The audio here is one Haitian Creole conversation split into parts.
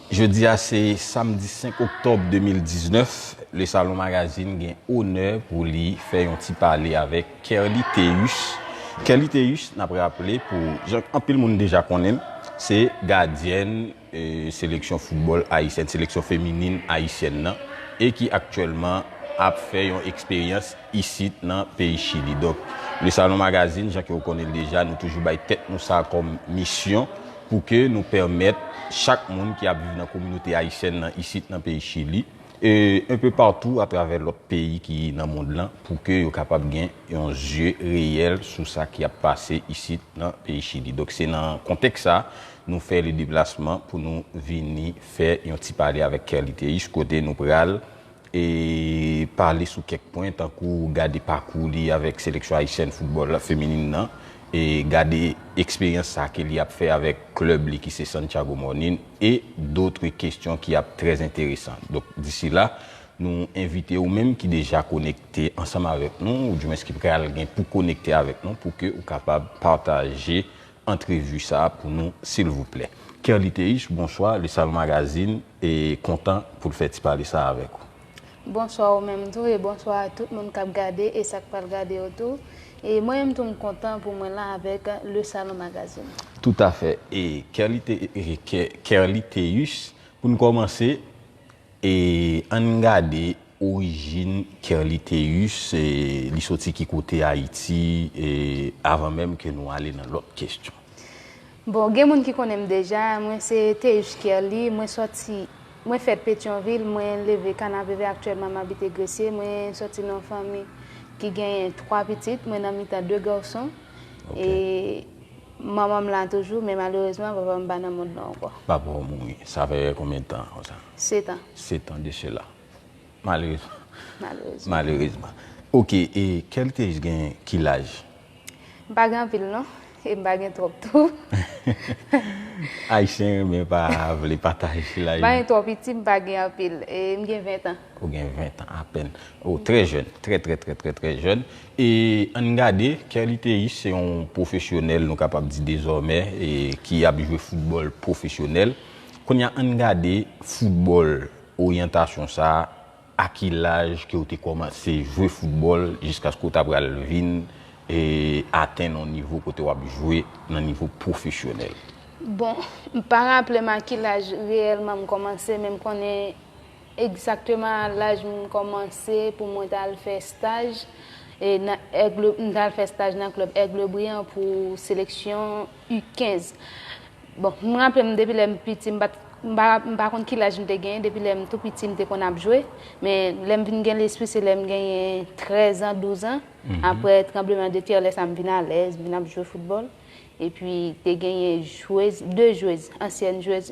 Jodi a se samdi 5 oktòb 2019, Le Salon Magazine gen onè pou li fè yon ti pale avèk Kerly Théus. Kerly Théus, n ap raple pou jan anpil moun deja konnen l, se gadyèn. Seleksyon foutbòl ayisyèn, seleksyon feminin ayisyèn nan e ki aktyèlman ap fè yon eksperyans isit nan peyi Chili. Donk, Le Salon Magazine, jan ke ou konnen l deja, nou toujou bay tèt nou sa kòm misyon pou ke nou pèmèt chak moun ki ap viv nan kominote ayisyèn nan isit nan peyi Chili e enpe patou atravè lòt peyi ki nan mond lan pou ke yo kapab gen yon zye reyèl sou sa ki ap pase isit nan peyi Chili. Donk, se nan kontèks sa Nou fè le deplasman pou nou vini fè yon ti pale avèk Kerly Théus kote nou pral e pale sou kèk pwen tankou gade pakou li avèk seleksyon ayisyèn foutbòl feminin nan e gade eksperyans sa ke li ap fè avèk klèb li ki se Santiago Morning e dotre kestyon ki ap trè enteresan. Donk disi la nou envite ou menm ki deja konekte ansanm avèk nou ou di mwens ki pral gen pou konekte avèk nou pou ke ou kapab pataje antrevi sa pou nou silvouplè. Kerly Théus, bonswa, Le Salon Magazine kontan pou l fè ti pale sa avèk ou. Bonswa ou menm tou e bonswa a tout moun k ap gade e sa k pral gade yo tou. E mwen menm tou m kontan pou mwen la avèk Le Salon Magazine. Toutafè. E Kerly Théus, pou n kòmanse, E ann gade orijin Kerly Théus, li soti ki kote Ayiti, avan menm ke nou ale nan lòt kestyon. Bon, gen moun ki konnen m deja, mwen se Théus Kerly, mwen soti, mwen fèt Petyonvil, mwen leve Kanapevè, aktyèlman m abite Gresye, mwen soti nan fanmi ki genyen 3 pitit, mwen nan mitan 2 garçon, e. Manman m la toujou, men malerezman papa m pa nan mond lan ankò. Papa w mouri, sa fè konbyen tan konsa? Setan. Setan de sela. Malerezman. Malerezman. Malerezman. Ok, e Kelkej gen ki laj? M pa gen anpil non, e m pa gen twòp tou. Ayisyen renmen pa vle pataje laj. M pa gen twò piti, m pa gen anpil. E m gen ventan. Ou gen ventan apèn. Ou trè jèn, trè trè trè trè trè jèn. E ann gade, Kè Liteyis se yon pwofesyonèl nou kapab di dezòmè ki ap jwe foutbòl pwofesyonèl. Kounye a ann gade foutbòl, oryantasyon sa a, a ki laj ke ou te kòmanse jwe foutbòl jiskaske ou ta pral vin atenn yon nivo kote w ap jwe nan nivo pwofesyonèl? Bon, m pa raple m a ki laj reyèlman m kòmanse men m konnen Egzakteman a laj m kòmanse pou mwen t al fè staj nan Aigle, m t al fè staj nan klèb Aigle Brillant pou seleksyon U 15. Bon, m raple m depi lè m piti m pa t, m pa, m pa konn ki laj m te genyen, depi lè m tou piti m te konn ap jwe. Men, lè m vin gen lespri se lè m genyen trèzan, douzan. Aprè tranbleman de tè, lè sa m vin alèz, m vin ap jwe foutbòl. Epi te genyen jwez, de jwez, ansyèn jwez.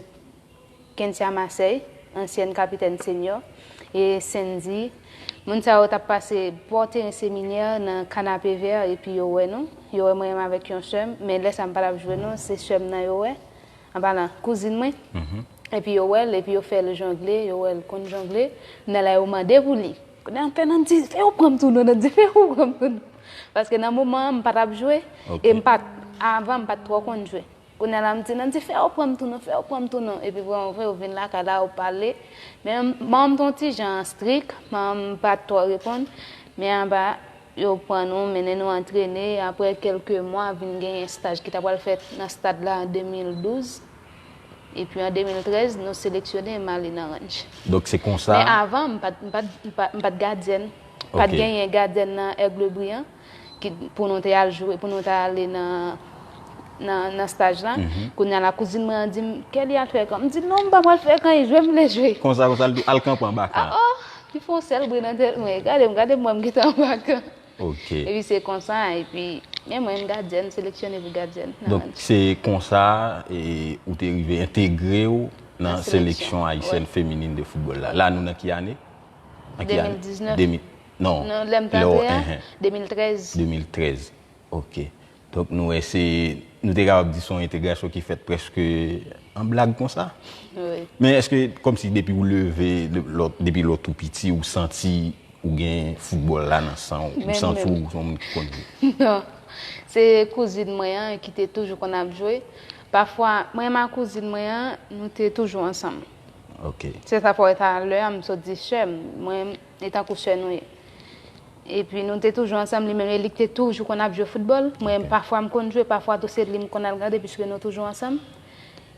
Kentia Marseille, ansyèn kapitèn senyò, e Cendy, moun sa yo t ap pase bò teren seminè nan Canapé-Vert epi yo wè nou, yo wè mwen avèk yon sè m, men lè sa m pa t ap jwe non, se sè m nan yo wè, anpalan, kouzin mwen, epi yo wè l, epi yo fè l jongle, yo wè l konn jongle, nan la yo mande pou li. Kounye a m fè nan m di, fè yo pran m tou non, nan m di fè yo pran m tou non, paske nan moman an m pa t ap jwe, e m pa t, avan m pa t twò konn jwe. Kounya la m di Nandy fè yo pran m tou non fè yo pran m tou non epi vrèman vre yo vin lakay la yo pale men manman m t yon ti jan strik manman m pat twò reponn men apa yo pran nou mennen nou antrene aprè kèlke mwa vin genyen staj ki ta pral fèt nan stad la an 2012 epi an 2013 nou seleksyone m ale nan ranch Donk se konsa men avan m pat m pat m pat gadyèn pat genyen gadyèn nan Aigle Brillant. pou nou te al jwe, pou nou te ale nan staj la. Kounye a la kouzin mwen an di m, Kèli al fè kan. M di, non, m pa pral fè kan, e jwe m vle jwe. Konsa konsa l di w, al kanpe anba kan. A o! Li fè yon sèl bri nan tèt mwen, gade m, gade m wè m ki te anba kan. Ok. Epi se konsa, epi men mwen, m gadyèn, m seleksyone pou gadyèn. Donk se konsa ou te rive entegre w nan seleksyon ayisyèn feminin de foutbòl la. La nou nan ki ane? 2019. Non, Nan lè m t lè w apre a, ehe. 2013. 2013, ok. Donk nou wè se, nou te kapab di se yon entegrasyon ki fèt prèske an blag konsa. Wi. Men èske kòmsi depi ou leve, lè w, depi lè w tou piti ou santi ou gen foutbòl la nan san w? Menm, menm. Ou santi w se yon moun ki konn jwe? Non. Se kouzin mwen an ki te toujou konn ap jwe. Pafwa, mwen ak kouzin mwen an, nou te toujou ansanm. Ok. Se sa fè w wè talè a m sot di sè m. Mwen. E tankou sè nou ye. E pi nou te toujou ansanm, li menm e li te toujou konn ap jwe foutbòl. Mwen menm pafwa m konn jwe, pafwa tou se li m konn al gade piske nou toujou ansanm.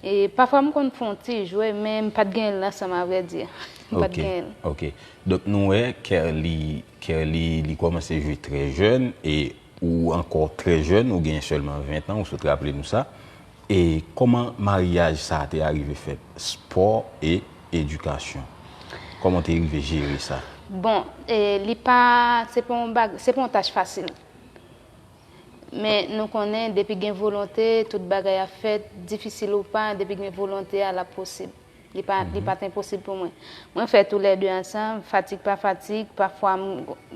E pafwa m konn fè yon ti jwe men m pa t genyen l nan san m avrèdi. M pa t genyen l. Ok. Donk nou wè Kerly, Kerly li kòmanse jwe trè jèn e ou ankò trè jèn, ou genyen sèlman 20 tan, ou sot raple nou sa. E kòman maryaj sa te arive fèt? Spò e edikasyon. Kòman w te rive jere sa? Bon, li pa, se pa yon baga, se pa yon tach fasil. Men nou konnen depi gen volonte, tout bagay ap fèt, difisil ou pa, depi gen volonte a, l ap posib. Li pa t enposib pou mwen. Mwen fè tou lè de ansanm, fatig pa fatig, pafwa m,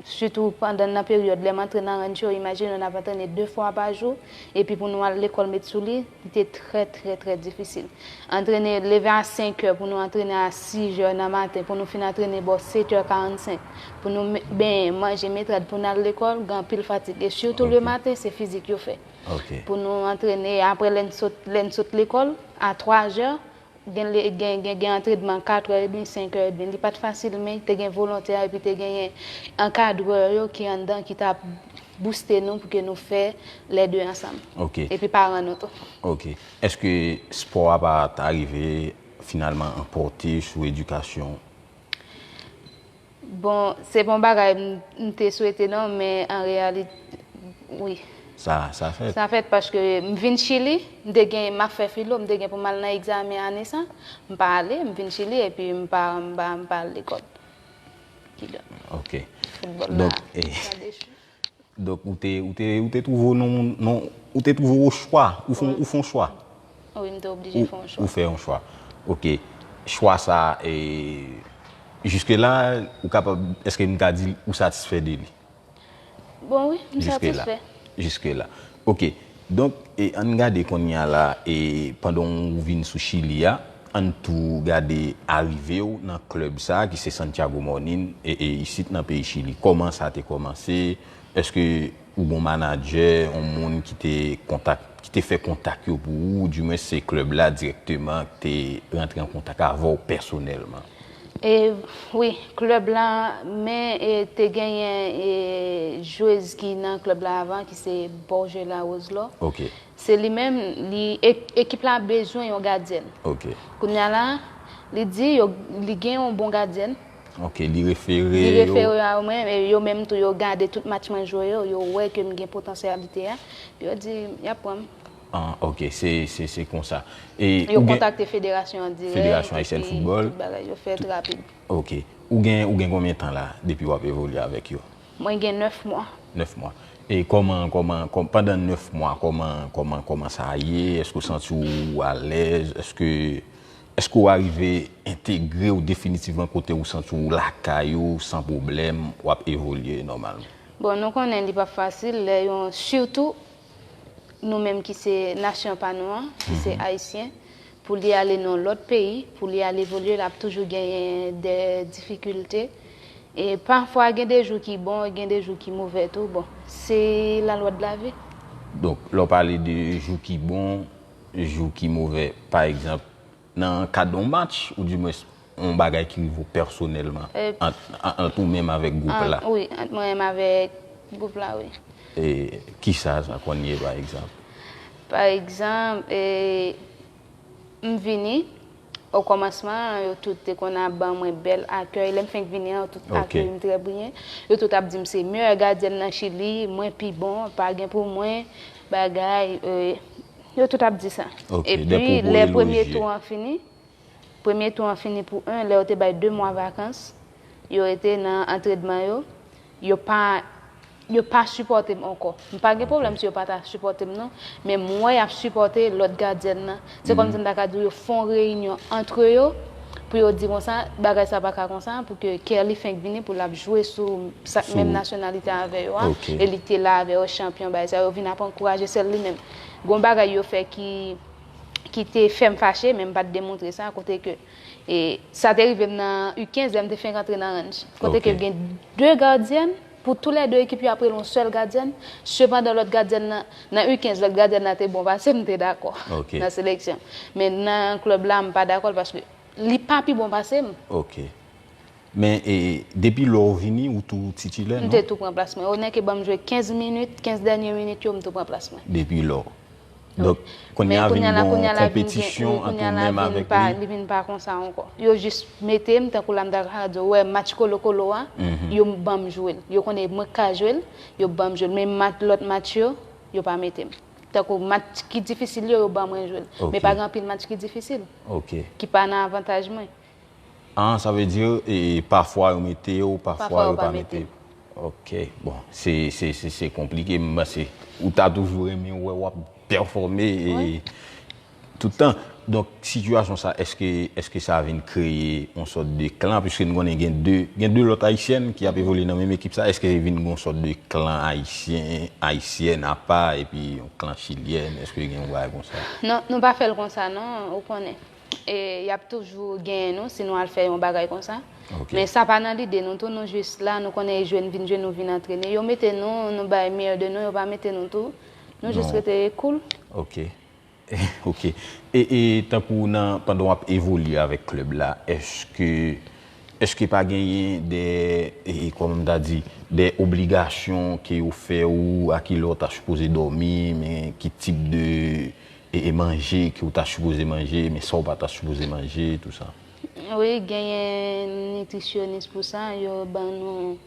sitou pandan nan peryòd lè m antre nan rancho, imajine w n ap antrene de fwa pa jou, epi pou nou al lekòl met sou li, li te trè trè trè difisil. Antrene, leve a senkè pou nou antrene a sijè nan maten, pou nou fin antrene bò setè karannsenk, pou nou benyen, manje, met rad pou n al lekòl, gen anpil fatig. E sitou le maten, se fizik yo fè. Pou nou antrene, apre lè n sot lekòl, a twazè, Gen lè gen antredman 4 è edmi, 5 è edmi. Li pa t fasil men te gen volontè epi te genyen ankadrè yo ki anndan ki t ap bouste nou pou ke nou fè lè 2 ansanm. Ok. Epi paran nou tou. Ok. Èske spò a pa t arive finalman anpòte sou edikasyon ou? Bon se pa yon bagay m te swete non men an reyalit wi. Sa fèt. Sa fèt paske m vin chili m te gen map fè filo m te gen pou m al nan egzamen ane sa m pa ale m vin chili epi m pa m pa al lekòl. Kidonk foutbòl la sa dechi. Donk ou te, ou te, ou te twouve w nan yon, nan, ou te twouve w o chwa, ou fon, ou fon chwa. Wi, m te oblije fon yon chwa. Ou fè yon chwa. Ok. Chwa sa a, e, jiske la, ou kapab, eske m ka di ou satisfè de li? Bon wi, m satisfè. Jiske la. Jiske la. Ok donk e ann gade konnya la e pandan w vin sou chili a ann tou gade arive w nan club sa ki se Santiago Morning e e isit nan peyi chili kòman sa te kòmanse eske ou gon manadjè on moun ki te kontak ki te fè kontak yo pou ou di mwens se club la dirèkteman ki te rantre an kontak avè w pèsonèlman. E wi club la men e te genyen e jwez ki nan club la avan ki se Borgela Roselor. Ok. Se li menm li ekip la bezwen yon gadyèn. Ok. Kounya la li di yo li gen yon bon gadyèn. Ok li refere yo. Li refere yo a mwen e yo menm tou yo gade tout match mwen jwe yo, yo wè ke m gen potansyalite a. Yo di yap pran m. Ah ok se konsa. Yo kontakte federasyon an dirèk. Federasyon Ayisyèn Foutbòl. Tout bagay yo fèt rapid. Ok. Ou gen konbyen tan la depi wap evolye avèk yo? Mwen gen 9 mwa. 9 mwa. E kòman, kòman, pandan 9 mwa kòman, kòman, kòman sa ye? Èske ou santi ou alèz? Èske, èske ou arive entegre ou definitivman kote ou santi ou lakay ou san pwoblèm wap evolye nòmalman? Bon nou konnen li pap fasil lè yon sitou nou menm ki se nasyon pa nou an, ki se Ayisyen, pou li ale nan lòt peyi, pou li ale evolye, l ap toujou genyen de difikilte. E pafwa gen de jou ki bon, gen de jou ki move tou. Bon, se lalwa de lavi. Donk, lè w pale de jou ki bon, jou ki move, pa egzanp, Nan kad yon match ou di mwens yon bagay ki rive ou pèsonèlman ant ou menm avèk gwoup la. Wi, ant mwen menm avèk gwoup la, wi. E ki sa sa konn ye pa egzanp? Pa egzanp, m vini, o kòmansman an yo tout te konn ap ban mwen bèl akèy. Lè m fenk vini an yo tout akèy m trè byen. Yo tout ap di m se meyè gadyèn nan Chili, mwen pi bon, pa gen pou mwen, bagay. Yo tout ap di sa. Epi lè premye tou an fini, premye tou an fini pou 1, lè yo te bay 2 mwa vakans, yo rete nan antredman yo, yo pa, yo pa sipòte m ankò. M pa gen pwoblèm si yo pa ta sipòte m non, men m wè y ap sipòte lòt gadyèn nan. Se kòmsi m ta ka di w yo fè yon reyinyon antre yo pou yo di konsa, bagay sa pa ka konsa, pou ke Kerly fenk vini pou l ap jwe sou sa k menm nasyonalite avè yo a, e li te la avè yo, chanpyon, bagay sa yo, yo vin ap ankouraje sèl li menm. Gon bagay yo fè ki ki te fè m fache men m pa t demontre sa kote ke e sa te rive m nan U15 lè m te fenk antre nan ranj kote ke gen 2 gadyèn pou tou lè 2 ekip yo aprele yon sèl gadyèn sepandan lòt gadyèn nan nan U15 lòt gadyèn nan te bon pase m m te dakò nan seleksyon men nan klèb la m pa dakò l paske li pa pi bon pase m. Men depi lè w vini ou tou titilè non? M te tou pran plas mwen. Yo nèke banm jwe 15 minit, 15 dènye minit yo m tou pran plas mwen. Depi lè. Donk kounye a vin gon konpetisyon ant ou menm avèk li. Li vin pa konsa ankò. Yo jis mete m tankou la m ta ka di w wè match kolo kolo a, yo banm jwe l. Yo konnen mwen ka jwe l, yo banm jwe l. Men match lòt match yo, yo pa mete m. Tankou match ki difisil yo, yo ban mwen jwe l. Men pa gen anpil match ki difisil. Ki pa nan avantaj mwen. Ahh sa vle di pafwa yo mete yo pafwa yo pa mete yo. Ok bon se konplike m panse ou ta toujou renmen wè wap pèfòme tout tan. Donk sitiyasyon sa eske sa vin kreye yon sòt de klan pwiske nou konnen gen 2 lòt ayisyèn ki ap evolye nan menm ekip sa eske li vin yon sòt de klan ayisyen, ayisyèn apa epi yon klan chilyèn eske gen yon bagay konsa? Non nou pa fèl konsa non ou konnen. E yap toujou genyen nou si nou al fè yon bagay konsa. Men sa pa nan lide nou tou nou jis la nou konnen e jwe n vin jwe nou vin antrene. Yo mete nou nou bay meyè de nou yo pa mete nou tou nou jis rete koul. Ok ok e tankou nan pandan wap evolye avèk klèb la eske eske pa genyen de e kòman m ta di de obligasyon ke yo fè ou a kilè w ta sipoze dòmi men ki tip de E e manje ke ou ta sipoze manje, men sa ou pa ta sipoze manje, tou sa. Wi, genyen nitrisyonis pou sa, yo ban nou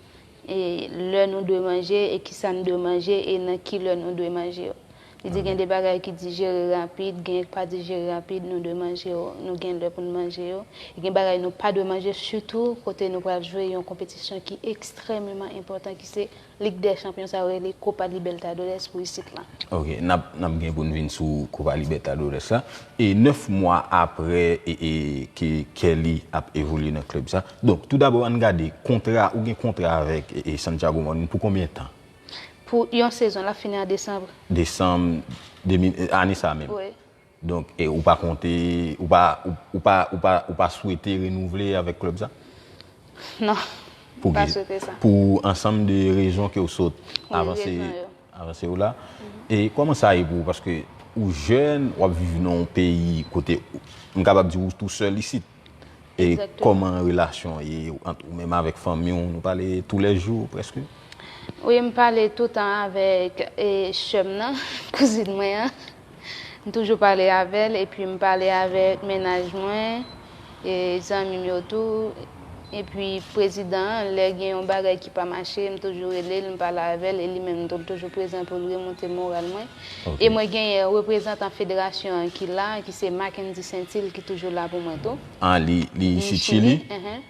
e lè nou dwe manje, e ki sa nou dwe manje, e nan ki lè nou dwe manje yo. Li di gen de bagay ki dijere rapid, genyen ki pa dijere rapid, nou dwe manje yo, nou gen lè pou nou manje yo. E gen bagay nou pa dwe manje, sitou kote nou pral jwe yon konpetisyon ki ekstrèmeman enpòtan ki se. Lig dè chanpyon sa yo rele Copa Libertadores pou isit lan. Ok n ap gen pou n vin sou Copa Libertadores la. E 9 mwa aprè ke Kelly ap evolye nan klèb sa. Donk tou dabò an n gade kontra ou gen kontra avèk Santiago Morning pou konbyen tan? Pou yon sezon l ap fini an desanm. Desanm ane sa menm. Wi. Donk e ou pa konte, ou pa, ou pa, ou pa, ou pa swete renouvle avèk klèb sa? Non, m pa swete sa. Pou ansanm de rezon ke ou sot avanse, avanse yo la. E kòman sa ye pou ou? Paske ou jèn, w ap viv nan yon peyi kote, m kapab di ou tou sèl isit. E kòman relasyon ye ant ou menm avèk fanmi w? Nou pale tou lè jou prèske? Wi, m pale toutan avèk sè m nan, kouzin mwen an. M toujou pale avè l epi m pale avèk mennaj mwen, zanmi m yo tou. Epi prezidan an, lè gen yon bagay ki pa mache, m toujou rele l, m pale avè l e li menm tou l toujou prezan pou l remonte moral mwen. E mwen genyen reprezantan federasyon an ki la, ki se Mackendy Saintil ki toujou la pou mwen tou. Ah li li isit chili?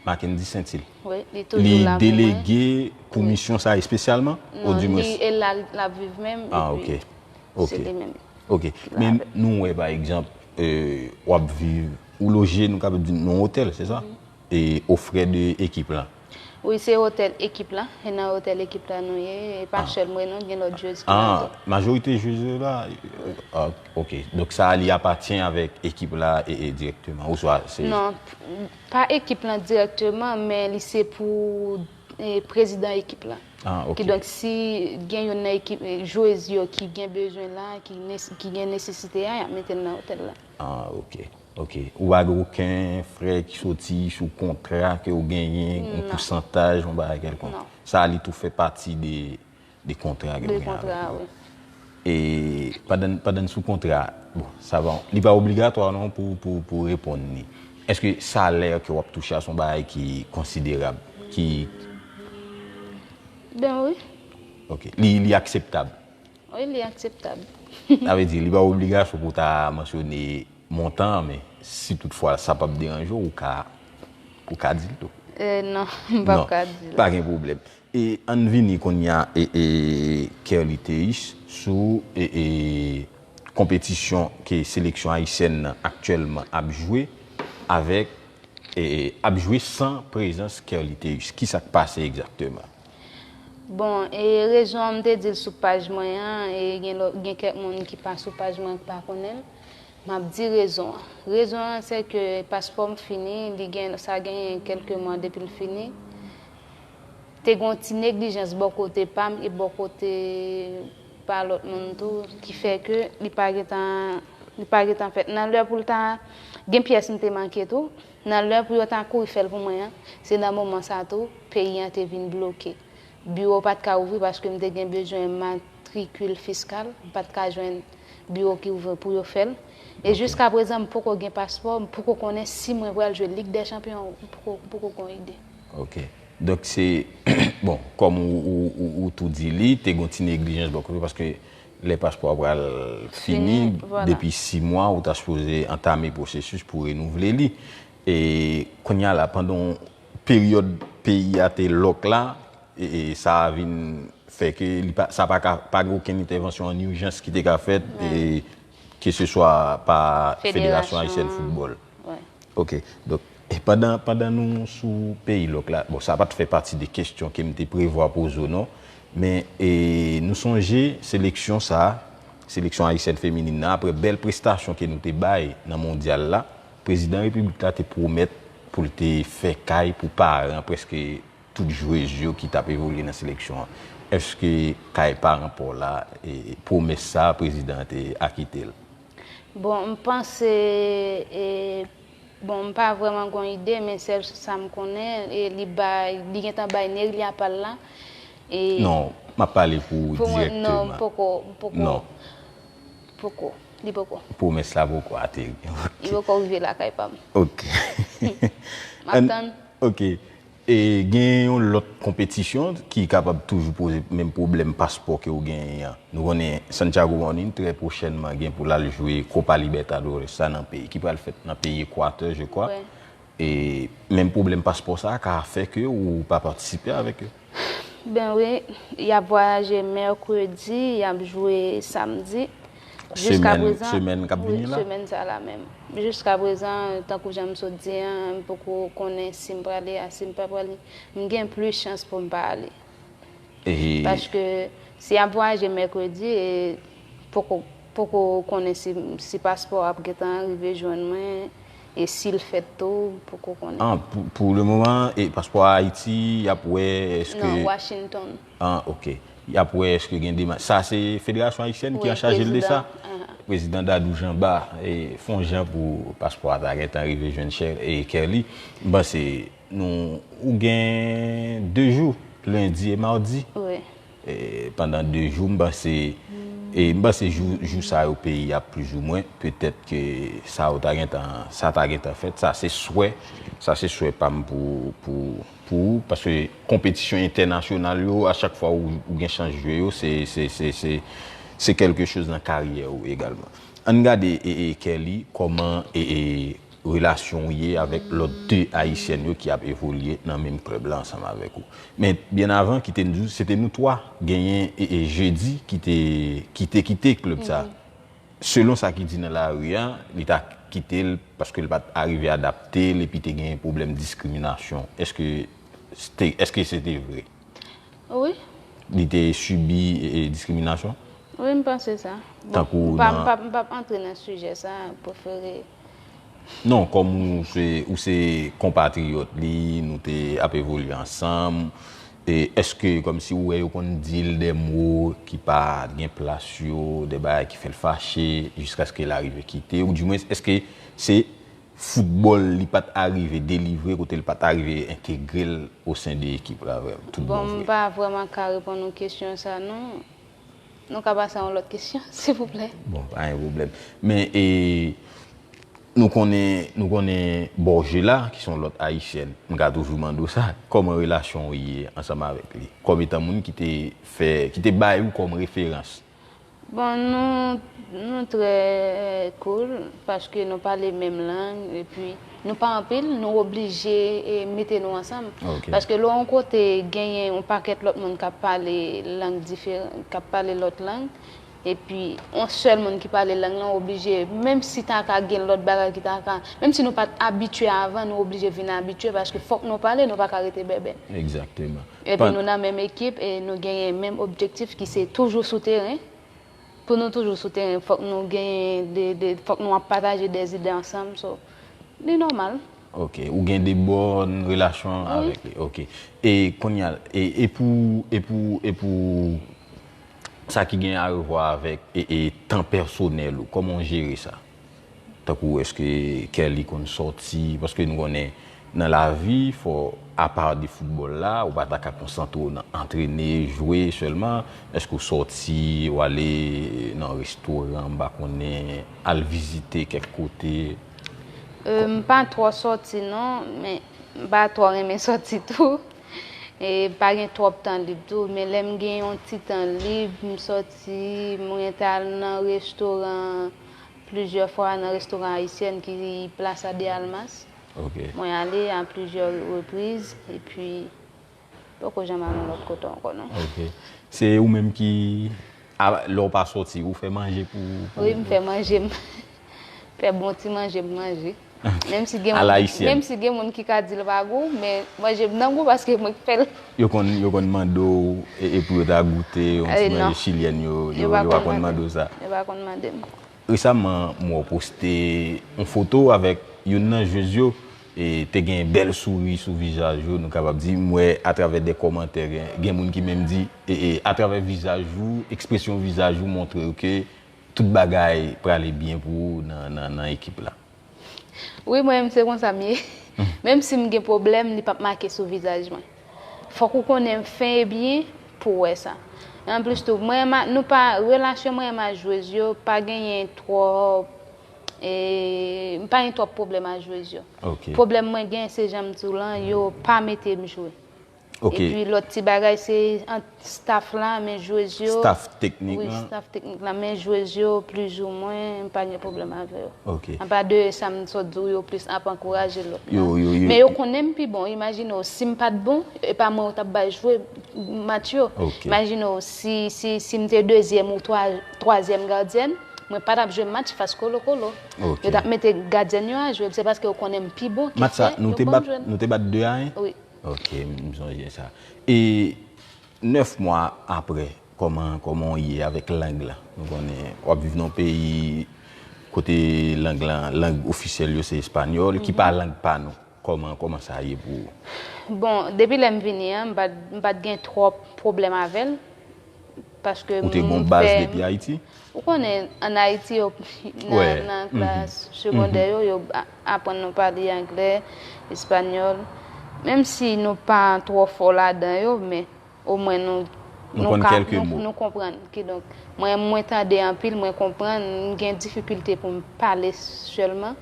Mackendy Saintil. Wi, li toujou la pou mwen. Li delege pou misyon sa espesyalman? Non, li e la lap viv menm epi. Ah ok. Ok. Se li menm. Ok. Men nou wè pa egzanp wap viv ou loje nou kapab di nan yon otèl, se sa? o frè de ekip lan. Wi se otèl ekip la, e nan otèl ekip la nou ye, e pa sèl mwen non, gen lòt jwez ki la tou. Majorite jwez yo la, ok, donk sa li apatyen avèk ekip la direkteman, ou swa se. Non, pa ekip lan direkteman, men li se pou prezidan ekip la. Ki donk si gen youn nan ekip, jwez yo ki gen bezwen la, ki gen nesesite a, y ap mete l nan otèl la. Ah ok. Ok, ou pa gen oken frè ki soti sou kontra ke ou genyen, yon pousantaj, yon bagay kelkonk? Non. Sa li tou fè pati de kontra ke ou genyen avèk yo? De kontra, wi. E pandan n sou kontra, bon, sa va, li pa obligatwa non pou reponn li. Eske salè ke ou ap touche a se yon bagay ki konsiderab, ki. Ben wi. Ok, li akseptab? Wi li akseptab. Sa vle di, li pa obligasyon pou w ta mansyone montan an, men si tout fwa sa pap deranje w, ou ka di l tou. Non, m pap ka di l. Non, pa gen pwoblèm. E ann vini kounya Kerly Théus sou konpetisyon ke seleksyon ayisyèn nan aktyèlman ap jwe avèk, ap jwe san prezans Kerly Théus. Kisa k pase egzakteman? Bon e rezon an m te di l sou paj mwen an e gen lò gen kèk moun ki pa sou paj mwen ki pa konnen l. M ap di rezon an. Rezon an se ke paspò m fini, li gen sa genyen kèlke mwa depi l fini. Te gen yon ti neglijans bò kote pa m e bò kote pa lòt moun tou ki fè ke li pa gen tan li pa gen tan fèt. Nan lè pou l ta gen pyès m te manke tou. Nan lè pou yo ta kouri fè l pou mwen an, se nan moman sa tou, peyi an te vin bloke. Biwo pa t ka ouvri paske m te gen bezwen matrikil fiskal, m pa t ka jwenn biwo ki ouvri pou yo fè l. E jiskaprezan m poko gen paspò, m poko konnen si mwen pral jwe Lig dè Chanpyon, m poko m poko gon ide. Ok. Donk se, bon, kòm ou tou di li te gon ti neglijans bò kote paske Lè paspò a pral fini, depi 6 mwa ou ta sipoze antame pwosesis pou renouvle li. E kounye a la pandan peryòd peyi a te lòk la, sa vin fè ke li pa, sa pa ka, pa gen okenn entèvansyon an ijans ki te ka fèt, keseswa pa Federasyon Ayisyèn Foutbòl. Ok. Donk, pandan, pandan nou sou peyi lòk la, bon sa pa t fè pati de kesyon ke m te prevwa poze w non, men e nou sonje seleksyon sa, seleksyon ayisyèn feminin nan aprè bèl prestasyon ke nou te bay nan mondyal la, prezidan repiblik la te pwomèt pou l te fè kay pou paran prèske tout jwez yo ki t ap evolye nan seleksyon an. Èske kay paran pa w la, pwomès sa a prezidan an te akite l? Bon m panse e bon m pa vrèman gon ide men sèl sa m konnen e li bay li gentan bay Nerilya pa l la e Non m ap pale pou ou pou mwen non m direkteman poko m poko Non poko li poko pwomès la poko ateri ok li poko rive lakay pa m ok m ap Ann tann ok E genyen yon lòt konpetisyon ki kapab toujou poze menm pwoblèm paspò ke ou genyen an. Nou konnen Santiago Morning trè pwochènman gen pou l al jwe Copa Libertadores sa nan peyi, ki pral fèt nan peyi Ekwatè je kwa. E menm pwoblèm paspò sa a ka fè ke ou pa patisipe avèk yo. Ben wi, y ap vwayaje mèkredi, y ap jwe samdi. semèn kap vini la? Semèn sa la menm. Jiska prezan, tankou jan m sot di an, m poko konnen si m prale a, si m pa prale. M gen plis chans pou m pa ale. Paske, si y ap vwayaje mèkredi, e poko konnen si paspò ap gen tan rive jwenn mwen, e si l fèt tou, m poko konnen. An, pou le moman, paspò a Ayiti, y ap wè, eske... Non, Washington. An ok. Yap wè eske gen demach. Sa se federasyon ayisyèn ki anchajel de sa? Prezidan Dadou Janba fon jan pou paspò a ta gentan rive jwenn Kerly. M panse nou ou gen 2 jou lendi e mardi. Pandan 2 jou m panse e m panse jou sa yo peyi ap plis ou mwen petèt ke sa ou ta gentan sa ta gentan fèt. Sa se swè sa se swè pa m pou pou. Pou ou, paske konpetisyon entènasyonal yo, a chak fwa ou gen chans jwe yo, se kèlke choz nan karyè ou egalman. Ann gade Kerly, kòman relasyon ou ye avèk lòt 2 ayisyèn yo ki ap evolye nan menm klèb la ansanm avèk ou. Men, byen avan, kite n di w, se te nou 3, genyen Jeudi ki te kite klèb sa. Selon sa ki di nan lari a, li ta kite l paske l pa t arive adapte l epi te genyen pwoblèm diskriminasyon. Èske èske se te vre? Wi. Li te sibi diskriminasyon? Wi, m panse sa. Tankou nan. Bon, m pa m pa p antre nan sijè sa a, m prefere. Non, kòm ou se ou se konpatriyòt li, nou te ap evolye ansanm. E eske kòmsi ou wè yo konn di l dè mo ki pa gen plas yo, dè bagay ki fè l fache, jiskaske l arive kite ou, dimwens eske se foutbòl li pa t arive delivre kote l pa t arive entegre l osen de ekip la vrèman, tout bon vre? Bon m pa vrèman ka reponn ou kesyon sa non. Nou ka pase a yon lòt kesyon, silvouplè. Bon, pa gen pwoblèm. Men, e, nou konnen, nou konnen Borgela, ki se yon lòt Ayisyèn, m ka toujou mande w sa, kòman relasyon w ye ansanm avèk li, kòm etan moun ki te fè, ki te bay ou kòm referans? Bon, nou, nou trè cool, paske nou pale menm lang, epi. Nou pa anpil, nou oblije mete nou ansanm. Paske lè w yon kote genyen yon pakèt lòt moun k ap pale lang diferan, k ap pale lòt lang, epi yon sèl moun ki pale lang lan, w oblije, menm si ta ka gen lòt bagay ki ta ka, menm si nou pa t abitye avan, nou oblije vin abitye paske fòk nou pale, nou pa ka rete bèbè. Egzakteman. Epi nou nan menm ekip e nou genyen menm objektif ki se toujou sou teren. Pou nou toujou sou teren fòk nou genyen de, de, fòk nou ap pataje de zide ansanm so li nòmal. Ok, ou gen de bòn relasyon avèk li. Ok. E kounye a, e, e pou, e pou, e pou sa ki gen arevwa avèk e, e tan pèsonèl ou, kòman ou jere sa? Tankou eske kè li konn sòti, paske nou konnen nan lavi fò apa de foutbòl la, ou pa ta ka konsantre w nan antrene, jwe sèlman, eske w sòti, w ale nan restoran, m pa konnen, al vizite kèk kote? M pa twò sòti non, men m pa twò renmen sòti tou, e m pa gen twòp tan lib tou, men lè m gen yon ti tan lib, m sòti. Si mwen ta al nan restoran plizyè fwa nan restoran ayisyèn ki Plaza de Almas. Mwen ale a plizyè repriz epi poko janm al yon lòt kote ankò non. Ok. Se ou menm ki lè ou pa soti ou fè manje pou ou? Wi m fè manje m. Fè bon ti manje m manje. Menm si gen moun ki ka di l pa gou, men manje m nan gou paske mwen k fè l. Yo konn mande w e pou yo ta goute yon ti manje chilyèn yo, yo pa konn mande w sa? Yo pa konn mande m. Resaman m wè w poste yon foto avèk youn nan jwez yo, te gen bèl souri sou vizaj yo nou kapab di, m wè atravè de kòmantè gen moun ki menm di atravè vizaj ou, ekspresyon vizaj ou montre yo ke Tout bagay prale byen pou ou nan ekip la. Wi mwen menm se konsa m ye. Menm si m gen pwoblèm li pap make sou vizaj mwen. Fòk ou konnen m fen e byen pou w wè sa. E anplis tou mwen menm ak nou pa relasyon mwen menm ak jwez yo pa genyen twòp eee m pa gen twòp pwoblèm ak jwez yo. Pwoblèm mwen gen se jan m di w lan yo pa mete m jwe. Ok. Epi lòt ti bagay se ant staff la, men jwez yo. Staff teknik lan. Wi, staff teknik lan. Men jwez yo plizoumwen m pa gen pwoblèm avè yo. Ok. Apa de sa m sot di w yo plis ap ankouraje lòt la. Yo, yo, yo. Men yo konnen m pi bon. Imajine w si m pa t bon, e pa mwen yo t ap bay jwe match yo. Ok. Imajine w si, si, si m te dezyèm ou twa, twazyèm gadyèn, mwen pa t ap jwe match fas Kolokolo. Ok. Yo t ap mete gadyèn yo a jwe. Se paske yo konnen m pi bon ki fè yo ban m jwe. Match sa nou te bat, nou te bat 2 a 1? Wi. Ok m sonje sa. E 9 mwa aprè kòman kòman w ye avèk lang lan? Nou konnen w ap viv nan yon peyi kote lang lan lang ofisyèl yo se espanyòl ki pa lang pa nou. Kòman kòman sa ye pou ou? Bon depi lè m vini an m pa m pa t gen twòp pwoblèm avè l. Ou te gen yon baz depi Ayiti? Ou konnen, an Ayiti, nan klas segondè yo, yo aprann nou pale angle, espanyòl. Menm si nou pa twò fò ladan yo, men, omwen nou ka. Nou konn kèlke mo. Nou konprann. Kidonk, mwen, mwen tande anpil, mwen konprann. Mwen gen difikilte pou m pale sèlman.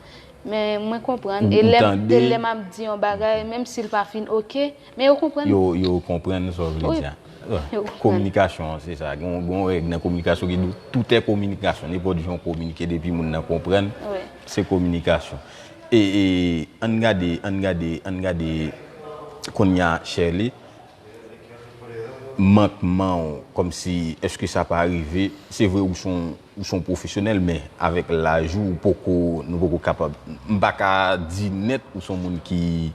Men, mwen konprann. Ou tande. E lè m ap di yon bagay, menm si l pa fin oke. Men yo konprann. Yo konprann sa w vle di a. Yo konprann. Kominikasyon an se sa. Gen yon règ nan kominikasyon ki di tout è kominikasyon. Nenpòt jan w kominike depi moun nan konprann, se kominikasyon. E an n gade, an n gade, an n gade kounye a Sherley, mankman w kòmsi èske sa pa rive, se vre ou son ou son pwofesyonèl men avèk laj ou ou poko nou poko kapab m pa ka di nèt ou son moun ki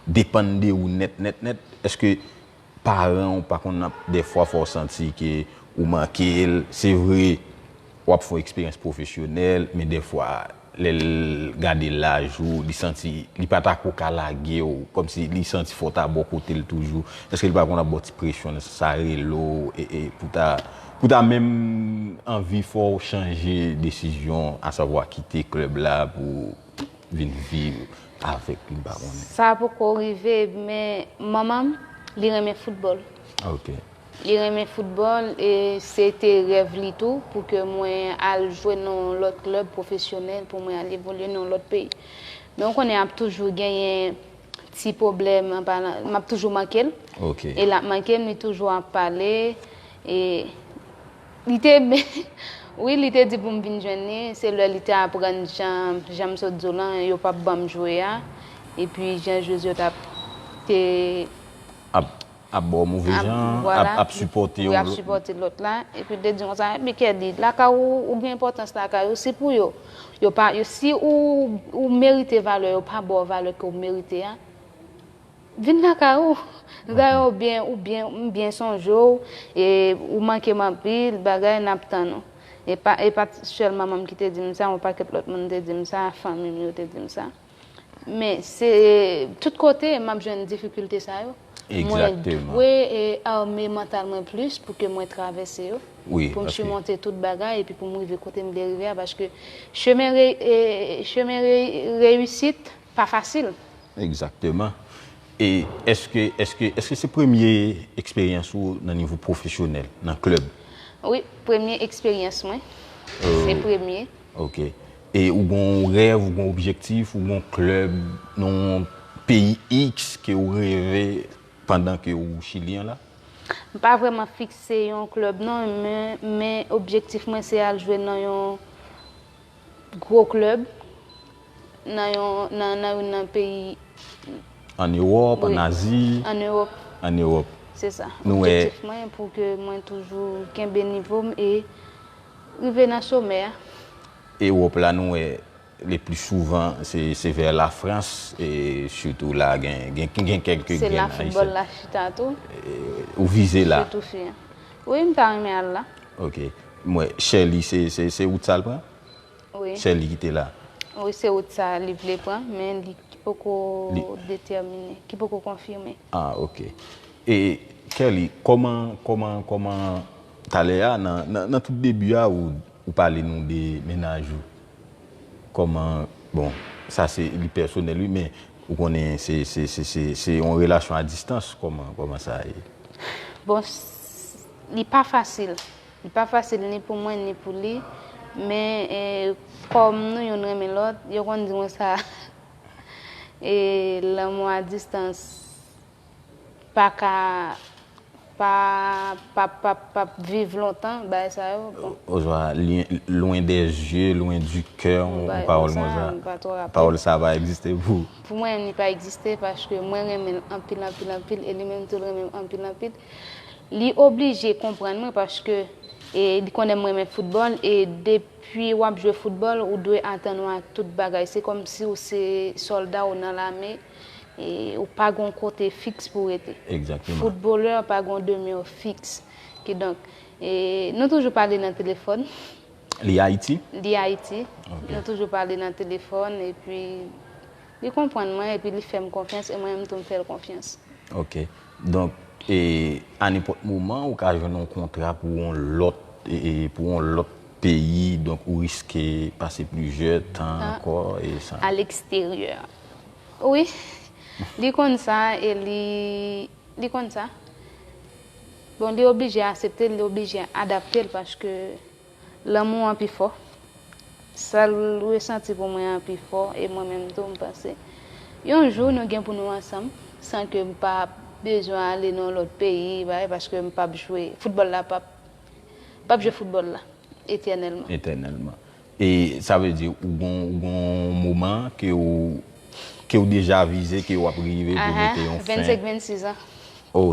depann de ou nèt nèt nèt èske paran ou pa konn ap dèfwa fè w santi ke ou manke l se vre w ap fè w eksperyans pwofesyonèl men dèfwa lè l gade laj ou li santi li pa ta ko ka lage w kòm si li santi fò w ta bò kote l toujou èske li pa konn ap ba w ti presyon nan sans sa rele w e pou ta pou ta menm anvi fè w chanje desizyon asavwa kite klèb la pou vin viv avèk li m pa konnen. Sa poko rive men manman m li renmen foutbòl. Ok. Li renmen foutbòl e se te rèv li tou pou ke mwen al jwe nan yon lòt klèb pwofesyonèl pou mwen al evolye nan yon lòt peyi. Men ou konnen ap toujou genyen ti pwoblèm an palan m ap toujou manke l. Ok. E l ap manke m li toujou ap pale e. Li te Wi li te di pou m vin jwenn li, se lè li te aprann jan jan m sot di w lan yo pap ban m jwe a epi jan jwez yo t ap te Ap ap ba w move ap jan, vwala, ap sipòte w wi ap lòt sipòte lòt la epi l te di m konsa epi Kèdi lakay ou ou gen enpòtans lakay ou si pou yo yo pa si ou ou merite valè yo pa ba w valè ke w merite a. Vin lakay ou Gaye ou byen ou byen m byen sonje w e ou manke m anpil bagay nap tann ou e pa e pat sèl manman m ki te di m sa yon pakèt lòt moun te di m sa fanmi m yo te di m sa men se tout kote map jwenn difikilte sa yo mwen dwe e arme mantal mwen plis pou ke mwen travèse yo pou m simonte tout bagay epi pou m rive kote m vle rive a paske chemen e chemen reyisit pa fasil. Egzakteman. E eske eske eske se premye eksperyans ou nan nivo pwofesyonèl, nan klèb? Wi, premye eksperyans mwen. Se premye. Ok. E ou gen yon rèv, ou gen yon objektif, ou gen yon klèb nan yon peyi iks ke ou reve pandan ke ou Chilyen la? M pa vrèman fikse yon klèb non, men objektif mwen se al jwe nan yon gwo klèb nan youn nan peyi. An Ewòp, an Azi. An Ewòp. An Ewòp. Se sa. Nou wè. Objektif mwen pou ke mwen toujou kenbe nivo m e rive nan somè a. Ewòp la nou wè le pli souvan se vè la Frans e sitou la gen kèk grenn Ayisyen. Se la foutbòl la chita tou. Ou vize la. Sitou fi an. Wi m ta renmen al la. Ok m wè Sherley se wout sa l pran? Wi. Sherley ki te la? Wi se wout sa li vle pran men li ki poko detèmine, ki poko konfime. Ah ok. E Kerly kòman kòman kòman talè a nan tout debi a ou pale nou de mennaj ou. Kòman bon sa se li pèsonèl wi men ou konnen se yon relasyon a distans kòman sa ye. Bon li pa fasil li pa fasil ni pou mwen ni pou li men kòm nou youn renmen lòt yo konn di mwen sa e lanmou a distans. pa ka pa pap pap pap viv lontan bagay sa yo bon. Oswa loin des yeux loin du coeur yon pawòl konsa pawòl sa pa egziste pou ou? Pou mwen li pa egziste paske mwen renmen l anpil anpil anpil e li menm tou l renmen m anpil anpil li oblije konprann mwen paske e li konnen m renmen foutbòl e depi w ap jwe foutbòl ou dwe atann w a tout bagay se kòmsi w se sòlda ou nan lame e ou pa gon kote fiks pou rete. Exactement. Footballeur pa gon demeure fiks. Ki donk, e nou toujou pale nan telefòn. Li Haiti? Li Haiti. Ok. Nou toujou pale nan telefòn, e pi li konprann mwen, e pi li fè m konfyans, e mwen menm tou m fè l konfyans. Ok. Donk, e a nenpòt moman ou ka jwenn yon kontra pou yon lòt, e pou yon lòt peyi, donk ou riske pase plizyè tan ankò, e sa. A l'extérieur. Wi Li konn sa e li Li konn sa Bon li oblije asepte l li oblije adapte l paske lanmou an pi fò sa l resanti pou mwen an pi fò e mwen menm tou m panse yon jou nou gen pou nou ansanm san ke m pa bezwen ale nan yon lòt peyi bagay paske m pap jwe foutbòl la pap pap jwe foutbòl la etènèlman. Etènèlman E sa vle di ou gon moman ke ou ke ou deja vize ke ou ap rive pou mete yon fen? 25, 26 an. Oh,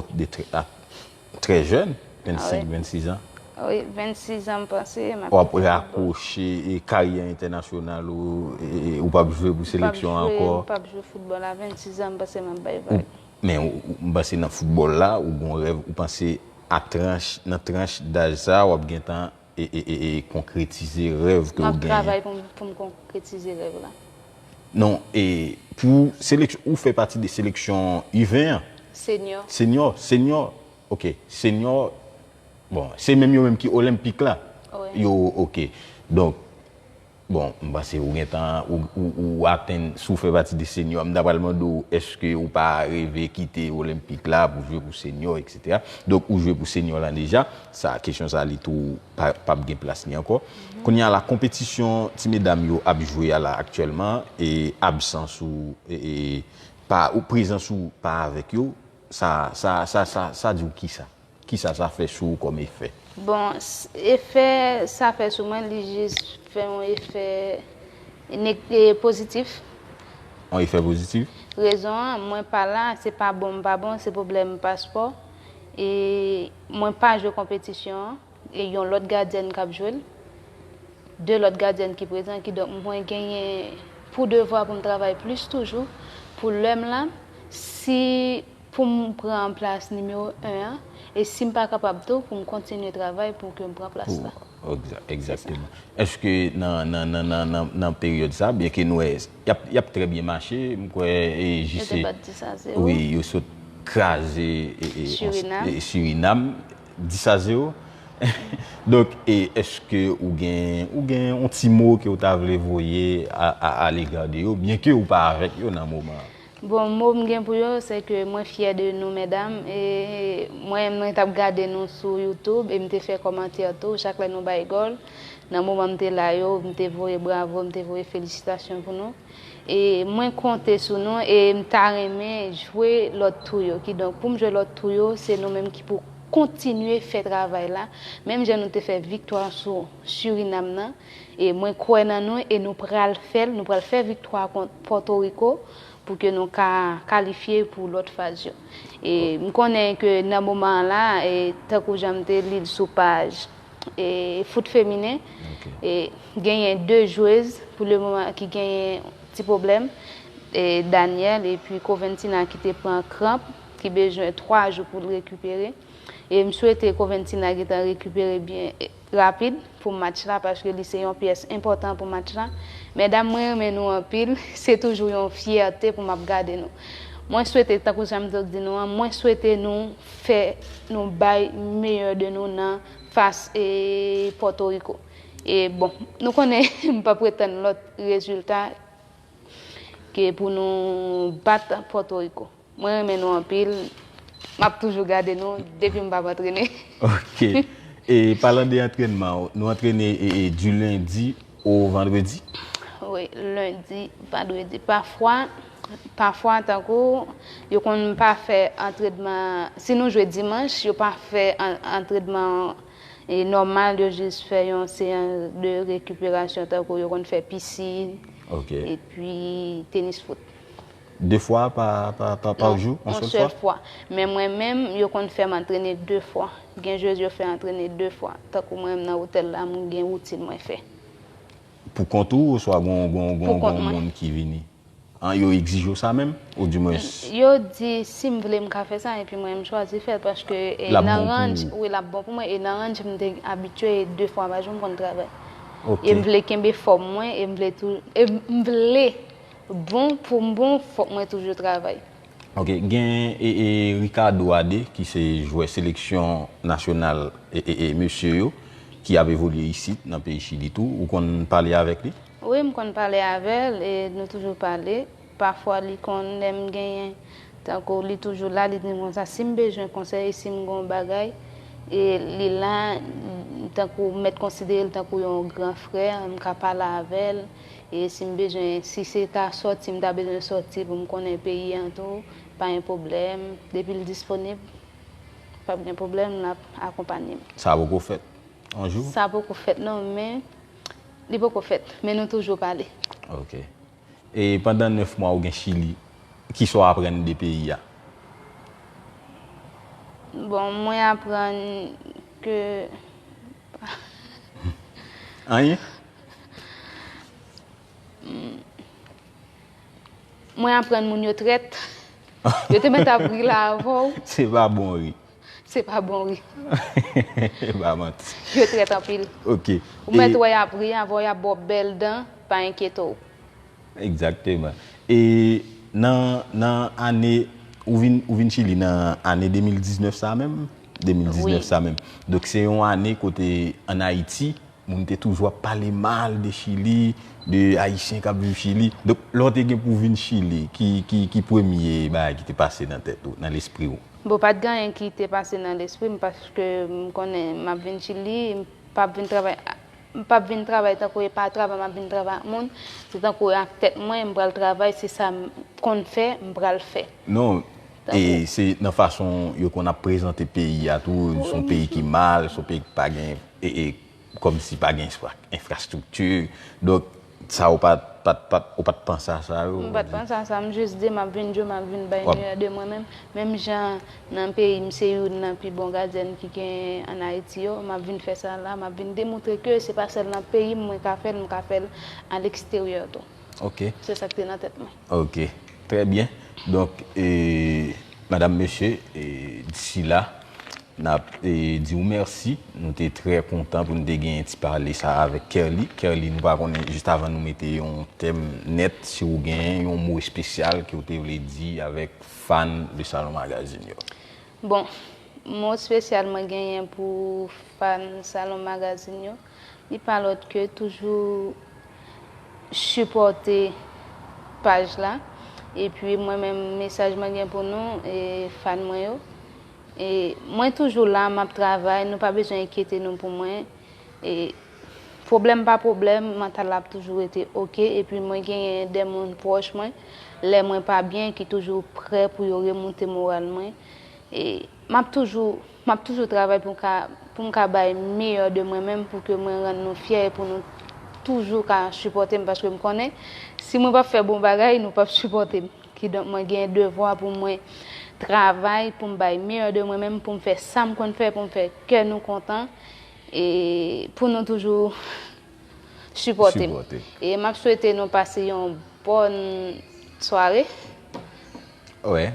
trè jèn, 25, 26 an. Wi, 26 an m panse. Ou ap rakwoche karyè entènasyonal ou, ou pap jwe pou seleksyon an ankò. M pap jwe foutbòl a 26 an, m panse m ap bay vag. Men, m panse nan foutbòl la, ou gon rèv, ou panse a tranch, nan tranch daj sa, w ap gentan e konkretize rèv ke ou genyen. Map travay pou m konkretize rèv la. Non, e pou seleksyon, ou fè pati de seleksyon U20 an? Senyò. Senyò, senyò, ok, senyò, bon, se menm yo menm ki Olenpik la? Wi. Yo, ok, donk. Bon, m panse ou gentan, ou atenn, si w fè pati de seniò, m ta pral mande w èske ou pa reve kite Olenpik la pou jwe pou seniò eksetera. Donk ou jwe pou seniò lan deja, sa kesyon sa li tou p ap gen plas li ankò. Kounye a la, konpetisyon ti medam yo ap jwe a la aktyèlman e absans ou e pa prezans ou pa avèk yo, sa sa sa sa di w kisa? Kisa sa fè sou ou kòm efè? Bon, efè sa fè sou mwen, li jis fè yon efè pozitif. Yon efè pozitif? Rezon an, mwen pa la, se pa bon m pa bon, se pwoblèm paspò. E mwen pa jwe konpetisyon an, e yon lòt gadyèn k ap jwe l. De lòt gadyèn ki prezan, kidonk mwen genyen pou devwa pou m travay plis toujou pou lè m la. Si. pou m pran plas nimewo 1 an e si m pa kapab tou pou m kontinye travay pou ke m pran plas la. Egzakteman. Eske nan peryòd sa, byen ke nou wè y ap trè byen mache, m kwè JC wi yo sot kraze Surinam 10 a 0. Donk eske ou gen yon ti mo ke ou ta vle voye a lega de yo byen ke ou pa avèk yo nan moman an? Bon mo m gen pou yo se ke mwen fyè de nou medam e mwen mwen tap gade nou sou youtube e m te fè kòmantè tou chak lè nou bay gòl nan moman m te la yo m te voye bravo m te voye felisitasyon pou nou e mwen konte sou nou e m ta renmen jwe lòt tou yo kidonk pou m jwe lòt tou yo se nou menm ki pou kontinye fè travay la menm jan nou te fè viktwa sou Surinam nan. E mwen kwè nan nou e nou pral fè l, nou pral fè viktwa kont Pòto Riko pou ke nou ka kalifye pou lòt faz yo. E m konnen ke nan moman an la, e tankou jan m te li l sou paj e foot feminen, e genyen 2 jwez pou le moman ki genyen ti pwoblèm, e Danielle epi Coventina ki te pran kranp, ki bezwen 3 jou pou l rekipere. E m swete Coventina gentan rekipere byen. rapid pou match la paske li se yon pyès enpòtan pou match la mèdam mwen renmen nou anpil se toujou yon fyète pou map gade nou mwen swete tankou janm toujou di nou an mwen swete nou fè nou bay meyè de nou nan fas pòtoriko e bon nou konnen mpa pre tann lòt rezilta ke pou nou bat pòtoriko. Mwen renmen nou anpil map toujou gade nou depim pap antrene. Ok e palan de antrenman nou antrene du lundi au vendredi? Wi lundi vendredi pafwa pafwa tankou yo konn pa fè antredman si nou jwe dimanch yo pa fè antredman nòmal yo jis fè yon seyans de rekiperasyon tankou yo konn fè piscine epi tenis foot. 2 fwa pa jou? Non, yon sèl fwa. Men mwen menm, yo konn fè m antrene 2 fwa. Gen jwez yo fè antrene 2 fwa. Tankou mwen menm nan otèl la, m gen woutin mwen fè. Pou kont ou oswa gon moun ki vini? Yo egzije w sa menm? Ou di mwen. Yo di si m vle m ka fè sa epi mwen menm m chwazi fè l paske nan ranj, wi l ap bon pou mwen e nan ranj m te abitye 2 fwa pa jou m konn travay. E m vle kenbe fòm mwen e m vle tou, e m vle. Bon poum bon fok mwen toujou travay. Ok gen Ricardo Ade ki se jwè seleksyon nasyonal mesye yo ki ap evolye isit nan peyi chili tou ou konn pale avèk li? Wi m konn pale avèl e nou toujou pale pafwa li konn lèm genyen tankou li toujou la li dim konsa sim bezwen konsèy sim gon bagay e li la tankou mèt konsiderel tankou yon gran frè m ka pale avèl E si m bezwen, si se ta sòti m ta bezwen sòti pou m konnen peyi an tou, pa gen pwoblèm, depi l disponib, p ap gen pwoblèm, l ap akonpanye m. Sa poko fèt yon jou? Sa poko fèt non, men, li poko fèt, men nou toujou pale. Ok. E pandan 9 mwa ou gen Chili, ki sa w aprann de peyi a? Bon, mwen aprann ke. Anyen? Mwen aprann moun yo trèt. Yo te mèt ap ri la avè w. Se pa bon ri. Se pa bon ri. E pa manti. Yo trèt anpil. Ok. Ou mèt wè y ap ri avè w, y ap ba w bèl dan, pa enkyete w. Egzakteman. E nan, nan ane, ou vin, ou vin Chili nan ane 2019 sa menm? 2019 sa menm. Donk se yon ane kote an Ayiti, Moun te toujou ap pale mal de chili, de ayisyen kap viv chili. Donk lè w te gen pou vin chili ki premye bagay ki te pase nan tèt ou, nan lespri w? Bon pat gen anyen ki te pase nan lespri m paske m konnen map vin chili, m pap vin travay, m pap vin travay tankou e pa travay map vin travay ak moun, se tankou e ak tèt mwen m pral travay se sa m konn fè m pral fè. Non, e se nan fason yo konn ap prezante peyi a tou, son peyi ki mal, son peyi ki pa gen. e kòm si pa gen enfrastrikti, donk sa ou pa t panse a sa yo? M pa t panse a sa, m jis di m ap vin jwe, m ap vin bay meyè de mwen menm, menm jan nan peyi m se youn nan pi bon gadyèn ki genyen an Ayiti yo, m ap vin fè sa la, m ap vin demoutre ke se pa sèl nan peyi m mwen ka fè l, m ka fè l aleksteryè tou. Ok. Se sa k te nan tèt mwen. Ok. Trè byen. Donk, madam, mesye, disi la, N ap di ou mèsi. Nou te trè kontan pou nou te genyen ti pale sa a avèk Kerly. Kerly, nou pa konnen, jis avan nou mete yon tèm nèt, si ou genyen yon mo espesyal ke ou te vle di avèk fan Le Salon Magazine yo? Bon, mo espesyal mwen genyen pou fan Salon Magazine yo, li pa lòt ke toujou sipòte paj la. Epi mwen menm, mesaj mwen gen pou nou, fan mwen yo, E mwen toujou la map travay nou pa bezwen enkyete nou pou mwen e pwoblèm pa pwoblèm mantal la ap toujou rete ok epi mwen genyen de moun pwòch mwen lè mwen pa byen ki toujou prè pou yo remoute moral mwen e map toujou map toujou travay pou ka pou m ka bay meyè de mwen menm pou ke mwen rann nou fyè e pou nou toujou ka sipòte m paske m konnen si mwen pap fè bon bagay nou pap sipòte m. Kidonk mwen gen devwa pou mwen travay pou m bay meyè de mwen menm pou m fè sa m konn fè pou m fè kè nou kontan e pou nou toujou sipòte m. E m ap swete nou pase yon bòn sware. Wè.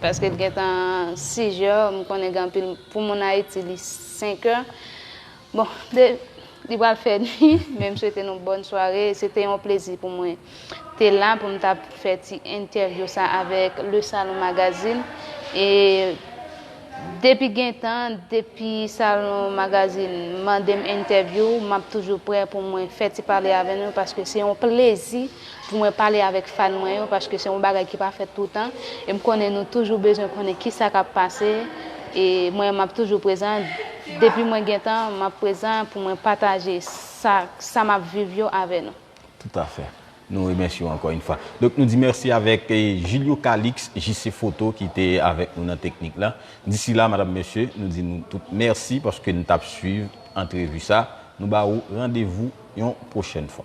Paske l gentan 6 jè, m konnen gen anpil pou moun Ayiti li 5 è. Bon de li pral fè nwi men m swete nou bòn sware se te yon plezi pou mwen te la pou m ta fè ti entèvyou sa avèk le salon magazine e depi gen tan depi salon magazine mande m entèvyou m ap toujou prè pou mwen fè ti pale avè nou paske se yon plezi pou mwen pale avèk fan mwen yo paske se yon bagay ki pa fèt toutan e m konnen nou toujou bezwen konnen kisa kap pase e mwen map toujou prezan depi mwen gentan map prezan pou mwen pataje sa sa map viv yo avè nou. Tout a fè. Nou remèsye w ankò yn fwa. Donk nou di mèsi avèk Julio Calix, JC Photo ki te avèk nou nan teknik la. Disi la madam mesye nou di nou tout mèsi paske n tap swiv antrevi sa. Nou ba ou randevou. Yon pwochèn fwa.